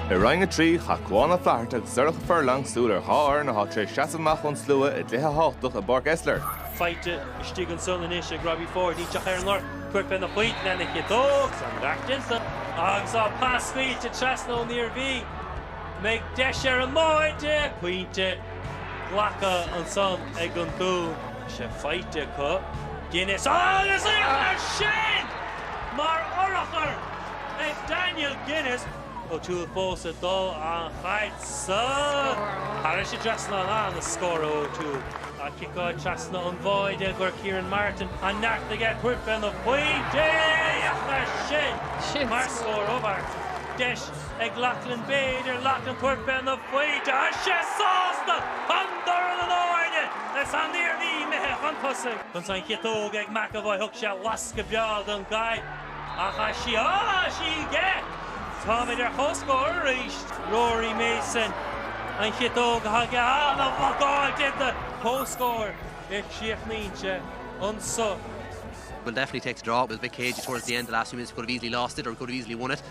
I Roinn 3, chaith Cuán Ó Flatharta agus Sorcha Furlong súil ar dhá fhoireann atá tar éis seasamh amach ón slua i gcluiche thábhachtach i bPáirc Esler. faighte istigh ansan anois ag Robbie Forde, Isteach ar an lorg, tabhairt féna phointe lena chiotóg an iarracht déanta agus á pas scaoilte trasna ón Iarmhí. Mbeidh deis ar an mbáide! Pointe glactha ansan ag an Dún. sé faighte acu, Guinness agus féach air sin mar urchar ag Daniel Guinness. O'Toole fós ag dul an chaid sa scoradh. Thagair sé trasna ana-scór O'Toole. Ag ciceáil trasna an bháide go Kieran Martin an neart aige tabhairt féna phointe air sin mar scór ó Martin. Deis. Ag Loughlin b'fhéidir Loughlin tabhairt féna phointe tá sé sásta an dorn in airde is an Iarmhí imithe chun tosaigh. Chun san chiotóg ag McEvoy thug sé lascadh breá don gcaid agus tá sí aige. Táimid ar comhscór arís. Rory Mason an chiotóg a thug an-bhlocáil déanta. Comhscór a chríochnaíonn sé anso. We'll definitely take the draw, it was a bit cagey towards the end the last few minutes, we could have easily lost it or we could have easily won it.